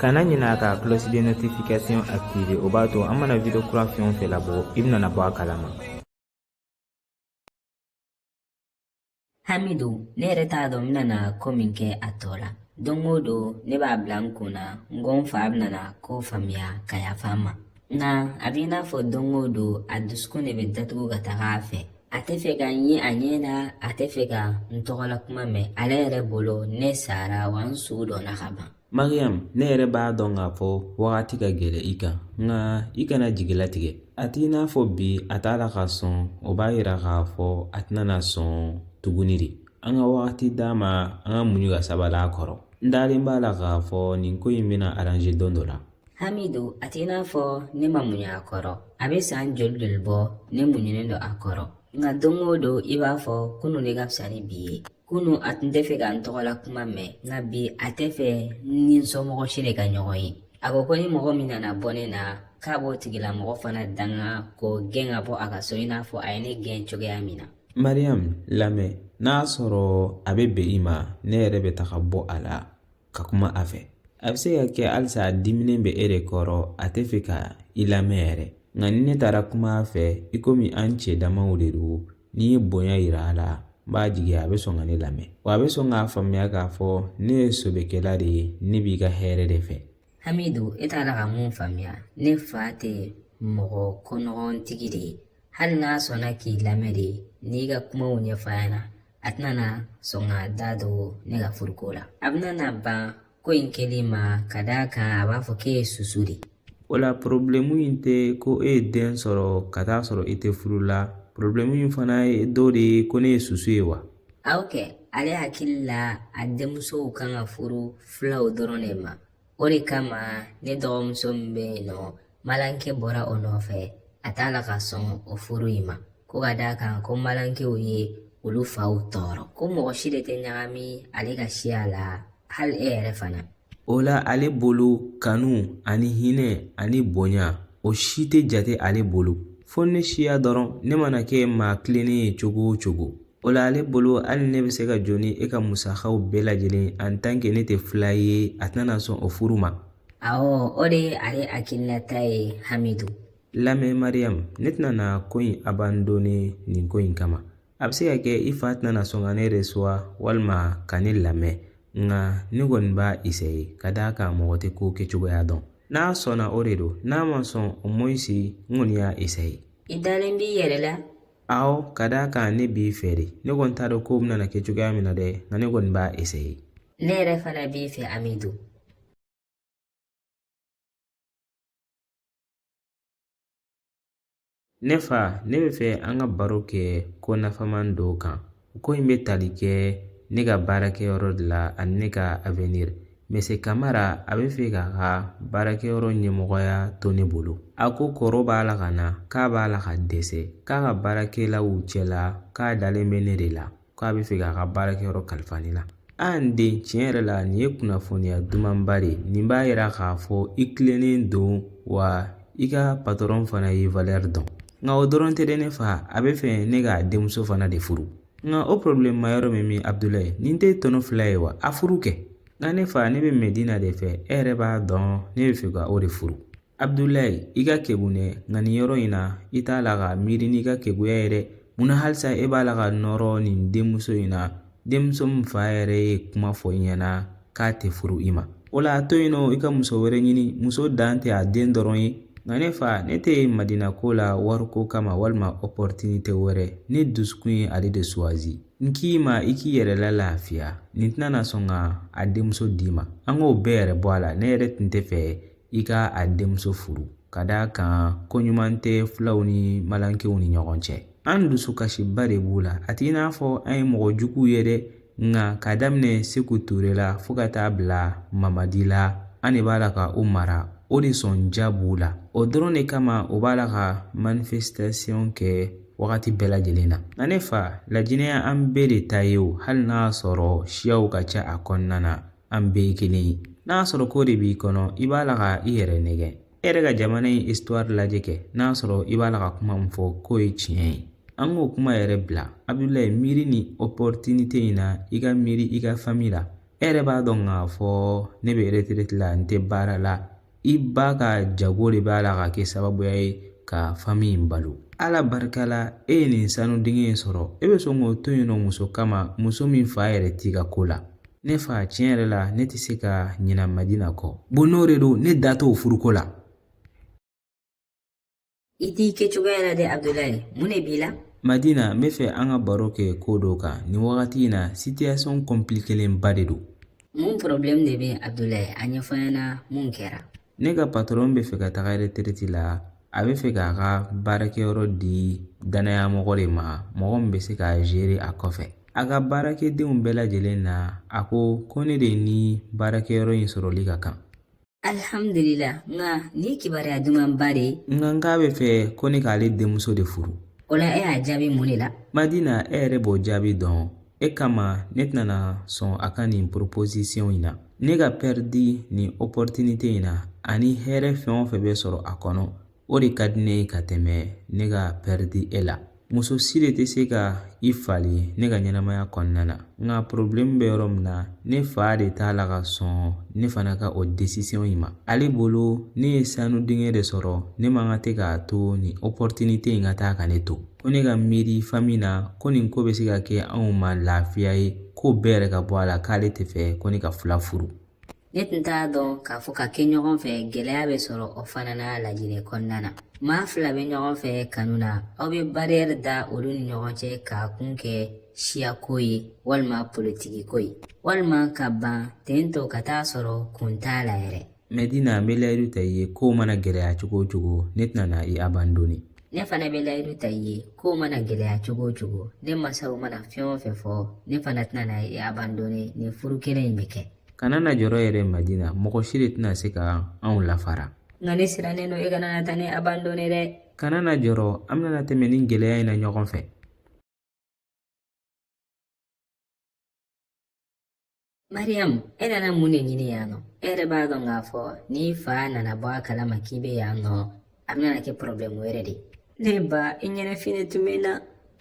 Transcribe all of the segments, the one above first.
kana ɲinɛ ka cloche de notification activer o b'a to an mana video kura fɛn o fɛn labɔ i bɛna bɔ a kalama hamidu ne yɛrɛ t'a dɔn n bɛna ko min kɛ a tɔ la don o don ne b'a bila n kun na n ko n fa bɛna ko faamuya ka yafa n ma nka a b'i n'a fɔ don o don a dusukun de bɛ datugu ka taga a fɛ a tɛ fɛ ka n ye a ɲɛ na a tɛ fɛ ka n tɔgɔla kuma mɛn ale yɛrɛ bolo ne sara wa n su donna ka ban mariyamu ne yɛrɛ b'a dɔn k'a fɔ wagati ka gɛlɛn i kan nka i kana jigi latigɛ a t'i n'a fɔ bi a t'a la ka sɔn o b'a yira k'a fɔ a tɛna na sɔn tuguni de an ka wagati d'a ma an ka muɲu ka sabali a kɔrɔ n dalen b'a la k'a fɔ nin ko in bɛna aranze don dɔ la hamidu a t'i n'a fɔ ne ma muɲu a kɔrɔ a bɛ san joli joli bɔ ne muɲunen don a kɔrɔ nka don o don i b'a fɔ kunun de ka fisa ni bi ye kunu a tun tɛ fɛ ka n tɔgɔla kuma mɛn nka bi a tɛ fɛ n ni n somɔgɔ si de ka ɲɔgɔn ye a ko ko ni mɔgɔ min nana bɔ ne na k'a b'o tigilamɔgɔ fana danga k'o gɛn ka bɔ a ka so i n'a fɔ a ye ne gɛn cogoya min na mariyamu lamɛn n'a sɔrɔ a bɛ bɛn i ma ne yɛrɛ bɛ taga bɔ a la ka kuma a fɛ a bɛ se ka kɛ halisa a diminen bɛ e de kɔrɔ a tɛ fɛ ka i lamɛn yɛrɛ nka ni ne taara kuma a fɛ i komi an cɛ damaw de don n'i ye bonya yira a la n b'a jigi a bɛ sɔn ka ne lamɛn wa a bɛ sɔn k'a faamuya k'a fɔ ne ye sɔbɛkɛla de ye ne b'i ka hɛrɛ de fɛ hamidu e t'a la ka mun faamuya ne fa tɛ mɔgɔ konɔgɔntigi de ye hali n'a sɔnna k'i lamɛn de n'i ka kumaw ɲɛfɔ a ɲɛ na a tɛna na sɔn k'a da don ne ka furuko la a bɛna na ban ko in kɛli ma ka d'a kan a b'a fɔ k'e ye susu de o la porobilɛmu in tɛ ko e ye den sɔrɔ ka t'a sɔrɔ i tɛ furu la porobilɛmu in fana ye dɔ de ye ko ne ye susu ye wa awɔ kɛ ale hakili la a denmusow kan ka furu fulaw dɔrɔn de ma O de kama ne dɔgɔmuso min bɛ yen nɔ malankɛ bɔra o nɔfɛ a t'a la ka sɔn o furu in ma ko ka d'a kan ko malankɛw ye olu faw tɔɔrɔ ko mɔgɔ si de tɛ ɲagami ale ka siya la hali e yɛrɛ fana o la ale bolo kanu ani hinɛ ani bonya o si tɛ jate ale bolo fo ne siya dɔrɔn ne mana kɛ maa tilennen ye cogo o cogo O la ale bolo hali ne bɛ se ka jɔ ni e ka musakaw bɛɛ lajɛlen en tant que ne tɛ fula ye a tɛna sɔn o furu ma awɔ o de ye ale hakilinata ye hamidu lamɛn mariyamu ne tɛna na ko in abandone nin ko in kama a bɛ se ka kɛ i fa tɛna sɔn ka ne resuwa walima ka ne lamɛn nka ne kɔni b'a isaye ka d'a kan mɔgɔ tɛ ko kɛcogoya dɔn n'a sɔnna o de don n'a ma sɔn au moins n kɔni y'a isaye i dalen b'i yɛrɛ la awɔ ka d'a kan ne b'i fɛ de ne kɔni t'a dɔn kow bɛna kɛ cogoya min na dɛ nka ne kɔni b'a eseye ne yɛrɛ fana b'i fɛ amidu ne fa ne bɛ fɛ an ka baro kɛ ko nafaman dɔ kan Ko in bɛ tali kɛ ne ka baarakɛyɔrɔ de la ani ne ka avenir Mese Kamara a bɛ fɛ k'a ka baarakɛyɔrɔ ɲɛmɔgɔya to ne bolo. A ko kɔrɔ b'a la ka na k'a b'a la ka dɛsɛ k'a ka baarakɛlaw cɛla k'a dalen bɛ ne de la k'a bɛ fɛ k'a ka baarakɛyɔrɔ kalifa ne la. A n den tiɲɛ yɛrɛ la nin ye kunnafoniya dumanba de ye nin b'a yira k'a fɔ i tilennen don wa i ka patɔrɔn fana y'i valɛri dɔn. nka o dɔrɔn tɛ dɛ ne fa a bɛ fɛ ne k'a denmuso fana de furu nka o porobilɛmuma yɔrɔ bɛ min abudulayi nin tɛ tɔnɔ fila ye wa a furu kɛ nka ne fa ne bɛ madina de fɛ e yɛrɛ b'a dɔn ne bɛ fɛ ka o de furu abudulayi i ka kegun dɛ nka nin yɔrɔ in na i t'a la ka miiri n'i ka keguya ye dɛ mun na halisa e b'a la ka nɔrɔ nin denmuso in na denmuso min fa yɛrɛ ye kuma fɔ i ɲɛna k'a tɛ furu i ma o la a to yen nɔ i ka muso wɛrɛ ɲini muso dan tɛ a den dɔrɔn ye nka ne fa ne tɛ madina ko la wariko kama walima opɔritinite wɛrɛ ne dusukun ye ale de suwazi n k'i ma i k'i yɛrɛ la lafiya nin tɛna na sɔn ka a denmuso d'i ma an k'o bɛɛ yɛrɛ bɔ a la ne yɛrɛ tun tɛ fɛ i ka a denmuso furu ka d'a kan ko ɲuman tɛ fulaw ni malinkew ni ɲɔgɔn cɛ an dusukasiba de b'u la a t'i n'a fɔ an ye mɔgɔ juguw ye dɛ nka k'a daminɛ seku ture la fo ka taa bila mamadi la an de b'a la ka u mara o de sɔnja b'u la o dɔrɔn de kama u b'a la ka manifestation kɛ wagati bɛɛ lajɛlen na nka ne fa lajinɛ ye an bɛɛ de ta ye o hali n'a sɔrɔ siyaw ka ca a kɔnɔna na an bɛɛ ye kelen ye n'a sɔrɔ k'o de b'i kɔnɔ i b'a la ka i yɛrɛ nɛgɛn e yɛrɛ ka jamana in histoire lajɛ kɛ n'a sɔrɔ i b'a la ka kuma min fɔ k'o ye tiɲɛ ye an k'o kuma yɛrɛ bila abudulayi miiri nin opportunité in na i ka miiri i ka famille la e yɛrɛ b'a dɔn k'a fɔ ne bɛ retraite la n tɛ baara la i ba ka jago de b'a la ka kɛ sababuya ye ka fami in balo ala barika la e ye nin sanu dingɛ in sɔrɔ e bɛ sɔn k'o to yen nɔ muso kama muso min fa yɛrɛ t'i ka ko la ne fa tiɲɛ yɛrɛ la ne tɛ se ka ɲinɛ madina kɔ bon n'o de don ne da t'o furuko la I t'i kɛcogoya la dɛ Abudulayi mun de b'i la Madina n bɛ fɛ an ka baro kɛ ko dɔ kan nin wagati in na situation compliquelenba de don mun problème de bɛ Abudulayi a ɲɛfɔ n ɲɛna mun kɛra ne ka patron bɛ fɛ ka taga retraite la a bɛ fɛ k'a ka baarakɛyɔrɔ di danaya mɔgɔ de ma mɔgɔ min bɛ se k'a gérer a kɔfɛ a ka baarakɛdenw bɛɛ lajɛlen na a ko ko ne de ni baarakɛyɔrɔ in sɔrɔli ka kan alihamudulila nka nin kibaruya dumanba de ye nka n k'a bɛ fɛ ko ne k'ale denmuso de furu o la e y'a jaabi mun de la madina e yɛrɛ b'o jaabi dɔn e kama ne tɛna sɔn a ka nin proposition in na ne ka pɛridi nin opportunité in na ani hɛrɛ fɛn o fɛn bɛ sɔrɔ a kɔnɔ o de ka di ne ye ka tɛmɛ ne ka pɛridi e la muso si de tɛ se ka i falen ne ka ɲɛnamaya kɔnɔna na nka porobilɛmu bɛ yɔrɔ min na ne fa de t'a la ka sɔn ne fana ka o desisiyɔn in ma ale bolo ne ye sanu dingɛ de sɔrɔ ne man kan de k'a to nin opɔritinite in ka taa ka ne to ko ne ka miiri fami na ko nin ko bɛ se ka kɛ anw ma lafiya ye ko bɛɛ yɛrɛ ka bɔ a la k'ale tɛ fɛ ko ne ka fula furu Ne tun t'a dɔn k'a fɔ ka kɛ ɲɔgɔn fɛ gɛlɛya bɛ sɔrɔ o fana na lajinɛ kɔnɔna na maa fila bɛ ɲɔgɔn fɛ kanu na aw bɛ bariyɛri da olu ni ɲɔgɔn cɛ k'a kun kɛ siyako ye walima politikiko ye walima ka ban ten tɔ ka t'a sɔrɔ kun t'a la yɛrɛ madina n bɛ layidu ta i ye kow mana gɛlɛya cogo o cogo ne tɛna na i abandoni ne fana bɛ layidu ta i ye kow mana gɛlɛya cogo o cogo ne masaw mana fɛn o fɛn fɔ ne fana tɛna na i abandoni nin furu kelen in bɛ kɛ kana na jɔrɔ yɛrɛ madina mɔgɔ si de tɛna se ka anw lafara nka ne sirannen don e kana na taa ne abandone dɛ kana na jɔrɔ an bɛna tɛmɛ nin gɛlɛya in na ɲɔgɔn fɛ mariyamu e nana mun de ɲini yan nɔ e yɛrɛ b'a dɔn k'a fɔ n'i fa nana bɔ a kalama k'i bɛ yan nɔ a bɛna na kɛ porobilɛmu yɛrɛ de ne ba i ɲɛnafin tun bɛ n na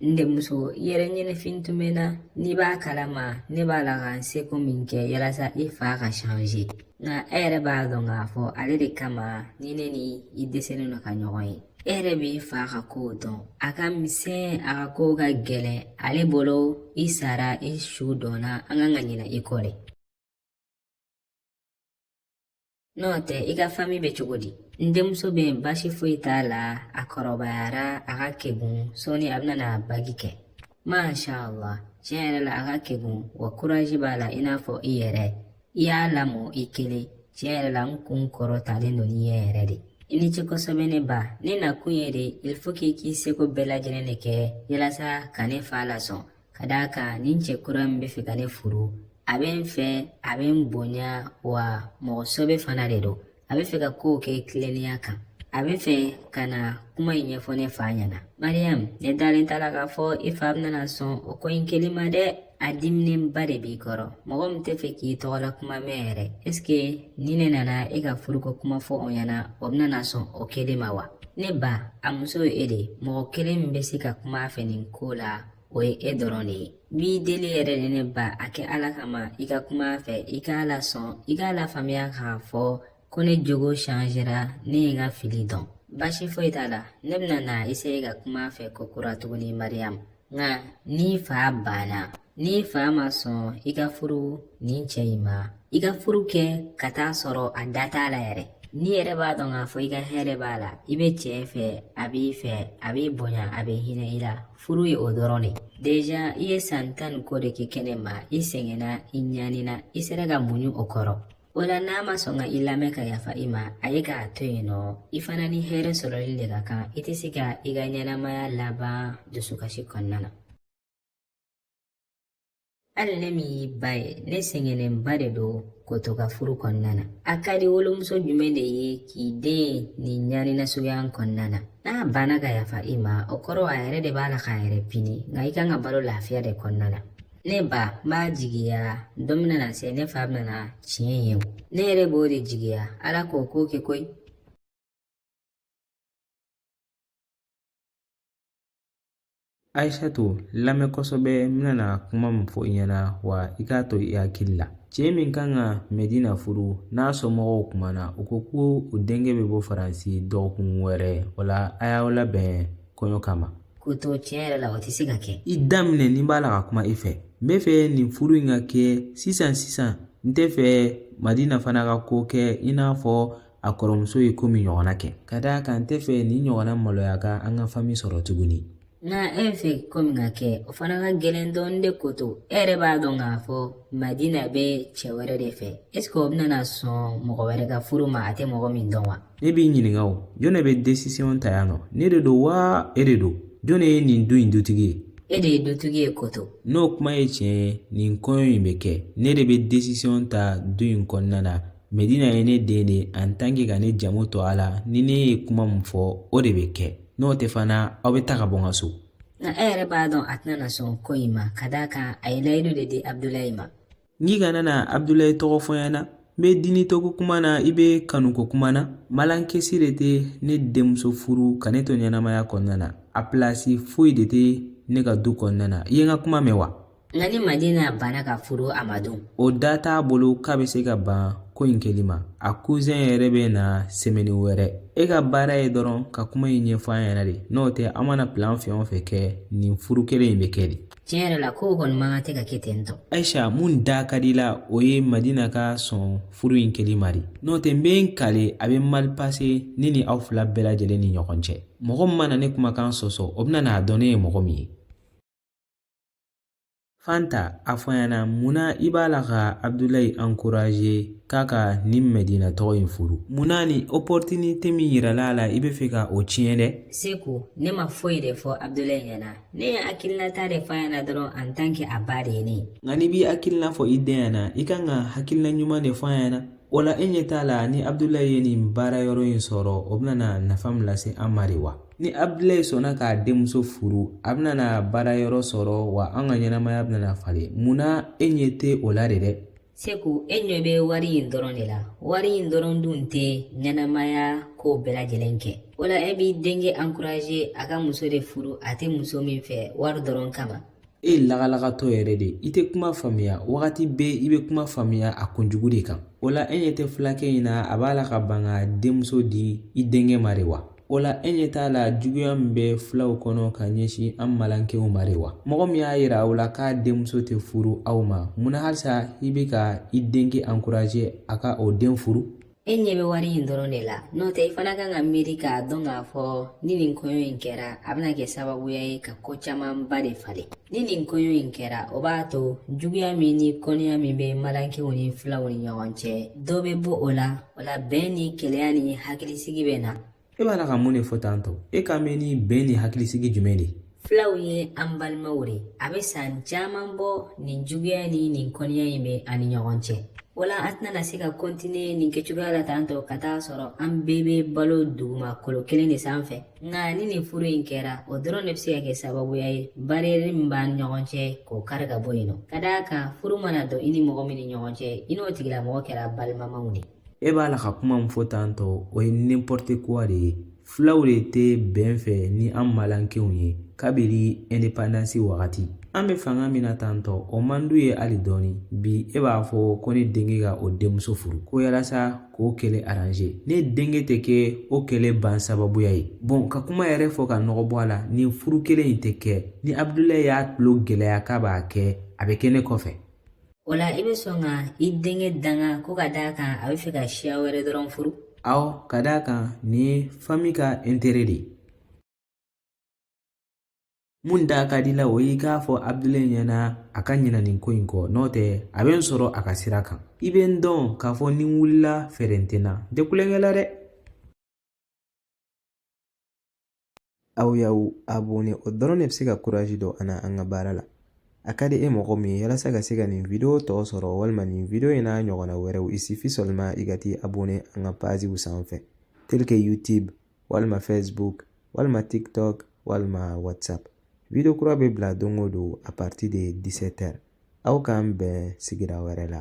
n denmuso i yɛrɛ ɲɛnafin tun bɛ n na n'i b'a kalama ne b'a la ka n seko min kɛ yalasa i fa ka change nka e yɛrɛ b'a dɔn k'a fɔ ale de kama ni ne ni i dɛsɛlen don ka ɲɔgɔn ye e yɛrɛ b'i fa ka kow dɔn a ka misɛn a ka kow ka gɛlɛn ale bolo i sara i su dɔnna an kan ka ɲinɛ i kɔ de N'o tɛ i ka fami bɛ cogo di n denmuso bɛ yen baasi foyi t'a la a kɔrɔbayara a ka kegun sɔɔni a bɛna n'a baki kɛ masha allah tiɲɛ yɛrɛ la a ka kegun wa kurazi b'a la i n'a fɔ i yɛrɛ i y'a lamɔ i kelen tiɲɛ yɛrɛ la n kun kɔrɔtalen don n'i ye yɛrɛ de i ni ce kosɛbɛ ne ba ne nakun ye de il faut k'i k'i seko bɛɛ lajɛlen de kɛ yalasa ka ne fa lasɔn ka d'a kan nin cɛ kura min bɛ fɛ ka ne furu a bɛ n fɛ a bɛ n bonya wa mɔgɔ sɛbɛ fana de don a bɛ fɛ ka kow kɛ tilennenya kan a bɛ fɛ ka na kuma in ɲɛfɔ ne fa ɲɛna mariyamu ne dalen t'a la k'a fɔ i fa bɛna sɔn o ko in kɛli ma dɛ a diminenba de b'i kɔrɔ mɔgɔ min tɛ fɛ k'i tɔgɔla kuma mɛn yɛrɛ ɛseke ni ne nana e ka furuko kuma fɔ o ɲɛna o bɛna sɔn o kɛli ma wa ne ba a muso ye e de mɔgɔ kelen min bɛ se ka kuma a fɛ nin ko la o ye e dɔrɔn de ye n b'i deli yɛrɛ de ne ba a kɛ ala kama i ka kuma a fɛ i k'a lasɔn i k'a lafaamuya k'a fɔ ko ne jogo changera ne ye n ka fili dɔn baasi foyi t'a la ne bɛna na essaye ka kuma a fɛ kokura tuguni mariyamu nka n'i fa banna n'i fa ma sɔn i ka furu nin cɛ in ma i ka furu kɛ ka taa sɔrɔ a da t'a la yɛrɛ n'i yɛrɛ b'a dɔn k'a fɔ i ka hɛrɛ b'a la i bɛ cɛ fɛ a b'i fɛ a b'i bonya a bɛ hinɛ i la furu ye o dɔrɔn de deja i ye san tan ni kɔ de kɛ kɛnɛma i sɛgɛnna i ɲanina i sera ka muɲu o kɔrɔ o la n'a ma sɔn ka i lamɛn ka yafa i ma a ye k'a to yen nɔ i fana ni hɛrɛ sɔrɔli de ka kan i tɛ se ka i ka ɲɛnamaya laban dusukasi kɔnɔna na hali ne min y'i ba ye ne sɛgɛnnenba de don koto ka furu kɔnɔna na a ka di wolomuso jumɛn de ye k'i den nin ɲani nasuguya kɔnɔna na n'a banna ka yafa i ma o kɔrɔ a yɛrɛ de b'a la k'a yɛrɛ pini nka i kan ka balo lafiya de kɔnɔna na ne ba n b'a jigiya don bɛna na se ne fa bɛna na tiɲɛ ye o ne yɛrɛ b'o de jigiya ala k'o ko kɛ koyi Aisatu lamɛn kosɛbɛ n bɛna na kuma min fɔ i ɲɛna wa i k'a to i hakili la cɛ min kan ka medina furu n'a somɔgɔw kumana u ko ko u denkɛ bɛ bɔ faransi dɔgɔkun wɛrɛ o la a y'aw labɛn kɔɲɔ kama koto tiɲɛ yɛrɛ la o tɛ se ka kɛ i da minɛ ne b'a la ka kuma i fɛ n bɛ fɛ nin furu in ka kɛ sisan sisan n tɛ fɛ madina fana ka ko kɛ i n'a fɔ a kɔrɔmuso ye ko min ɲɔgɔnna kɛ ka d'a kan n tɛ fɛ nin ɲɔgɔnna maloya ka an ka fami sɔrɔ tuguni nka e fɛ ko min ka kɛ o fana ka gɛlɛn dɔɔnin dɛ koto e yɛrɛ b'a dɔn k'a fɔ madina bɛ cɛ wɛrɛ de fɛ eseke o bɛna na sɔn mɔgɔ wɛrɛ ka furu ma a tɛ mɔgɔ min dɔn wa ne b'i ɲininka o jɔn de bɛ desisiyɔn ta yan nɔ ne de don wa e de don jɔn de ye nin du in dutigi ye e de ye dutigi ye koto n'o kuma ye tiɲɛ ye nin kɔɲɔ in bɛ kɛ ne de bɛ desisiyɔn ta du in kɔnɔna na Medina ye ne den de ye en tant que ka ne jamu to a la ni ne ye kuma min fɔ o de bɛ kɛ n'o tɛ fana aw bɛ taa ka bɔ n ka so nka e yɛrɛ b'a dɔn a tɛna na sɔn ko in ma ka d'a kan a ye layidu de di abudulayi ma i kana na abudulayi tɔgɔ fɔ n ɲɛna n bɛ diɲiteko kuma na i bɛ kanuko kuma na malinke si de tɛ ne denmuso furu ka ne to ɲɛnamaya kɔnɔna na a pilasi foyi de tɛ ne ka du kɔnɔna na i ye n ka kuma mɛn wa Nka ni madina banna ka furu a ma dun o da t'a bolo k'a bɛ se ka ban ko in kɛli ma a kuzɛn yɛrɛ bɛ na sɛmɛni wɛrɛ e ka baara ye dɔrɔn ka kuma in ɲɛfɔ a ɲɛna de n'o tɛ an mana pilan fɛn o fɛn kɛ nin furu kelen in bɛ kɛ de tiɲɛ yɛrɛ la kow kɔni man kan tɛ ka kɛ ten tɔ ayisa mun da ka di i la o ye madina ka sɔn furu in kɛli ma de n'o tɛ n bɛ n kale a bɛ mali pase ne ni aw fila bɛɛ lajɛlen ni ɲɔgɔn cɛ mɔgɔ min mana ne kumakan sɔsɔ o bɛna n'a dɔn ne ye mɔgɔ min ye Fanta a fɔ n ɲɛna munna i b'a la ka abudulayi ankuraze k'a ka nin madina tɔgɔ in furu munna nin opɔrɔtinite min yirala a la i b'a fɛ ka o tiɲɛ dɛ seku ne ma foyi de fɔ abudulayi ɲɛna ne ye n hakilinata de fɔ a ɲɛna dɔrɔn en tant que a ba de ye ne nka n'i b'i hakilina fɔ i den ɲɛna i kan ka hakilina ɲuman de fɔ a ɲɛna O la e ɲɛ t'a la ni Abudulayi ye nin baara yɔrɔ in sɔrɔ o bɛna nafa min lase an ma de wa ni Abudulayi sɔnna k'a denmuso furu a bɛna baara yɔrɔ sɔrɔ wa an ka ɲɛnamaya bɛna falen mun na e ɲɛ tɛ o la de dɛ Seku e ɲɛ bɛ wari in dɔrɔn de la wari in dɔrɔn dun tɛ ɲɛnamaya ko bɛɛ lajɛlen kɛ o la e b'i denkɛ ankuraze a ka muso de furu a tɛ muso min fɛ wari dɔrɔn kama e ye lagalagatɔ yɛrɛ de ye i tɛ kuma faamuya wagati bɛɛ i bɛ kuma faamuya a kunjugu de kan o la e ɲɛ tɛ fulakɛ in na a b'a la ka ban k'a denmuso di i denkɛ ma de wa o la e ɲɛ t'a la juguya min bɛ fulaw kɔnɔ ka ɲɛsin an malankew ma de wa mɔgɔ min y'a yira aw la k'a denmuso tɛ furu aw ma mun na halisa i bɛ ka i denkɛ ankuraje a ka o den furu E ɲɛ bɛ wari in dɔrɔn de la n'o tɛ i fana kan ka miiri k'a dɔn k'a fɔ ni nin kɔɲɔ in kɛra a bɛna kɛ sababuya ye ka ko camanba de falen ni nin kɔɲɔ in kɛra o b'a to juguya min ni kɔniya min bɛ malankew ni fulaw ni ɲɔgɔn cɛ dɔ bɛ bɔ o la o la bɛn ni kelenya ni hakilisigi bɛ na e b'a la ka mun de fɔ tan tɔ e kan bɛ nin bɛn ni hakilisigi jumɛn de fulaw ye an balimaw de a bɛ san caman bɔ nin juguya ni nin kɔniya in bɛ an ni ɲɔgɔn cɛ wala an tɛna se ka kɔntiniye nin kɛcogoya la tan tɔ ka t'a sɔrɔ an bɛɛ bɛ balo dugumakolo kelen de sanfɛ nka ni nin furu in kɛra o dɔrɔn de bɛ se ka kɛ sababuya ye bariyɛri min b'an ɲɔgɔn cɛ k'o kari ka bɔ yen nɔ ka d'a kan furu mana dɔn i ni mɔgɔ min ni ɲɔgɔn cɛ i n'o tigilamɔgɔ kɛra balimamaw de e b'a la ka kuma min fɔ tan tɔ o ye n'importe quoi de ye fulaw de tɛ bɛn fɛ ni an malankenw ye kabiri indépendance wagati an bɛ fanga min na tan tɔ o man d'u ye hali dɔɔni bi e b'a fɔ ko ne denkɛ ka o denmuso furu ko yalasa k'o kɛlɛ arranger ne denkɛ tɛ kɛ o kɛlɛ ban sababuya ye bon ka kuma yɛrɛ fɔ ka nɔgɔ bɔ a la nin furu kelen in tɛ kɛ ni abudulayi y'a tulo gɛlɛya k'a b'a kɛ a bɛ kɛ ne kɔfɛ O la i bɛ sɔn ka i denkɛ danga ko ka d'a kan a bɛ fɛ ka siya wɛrɛ dɔrɔn furu aw ka d'a kan nin ye fami ka intere de ye mun da ka di la o y'i k'a fɔ abudulayi ɲɛna a ka ɲina nin ko in kɔ n'o tɛ a bɛ n sɔrɔ a ka sira kan i bɛ n dɔn k'a fɔ ni n wulila fɛɛrɛ n tɛ na n tɛ tulonkɛ la dɛ Aw y'aw abonɛ o dɔrɔn de bɛ se ka kuraji don an na an ka baara la a ka di e mɔgɔ min ye yalasa ka se ka nin video tɔ sɔrɔ walima nin video in n'a ɲɔgɔnna wɛrɛw il suffit seulement i ka t'i abonɛ an ka paziw sanfɛ tel que youtube walima facebook walima tiktok walima whatsapp video kura bɛ bila don o don a partir de 17 heures aw k'an bɛn sigira wɛrɛ la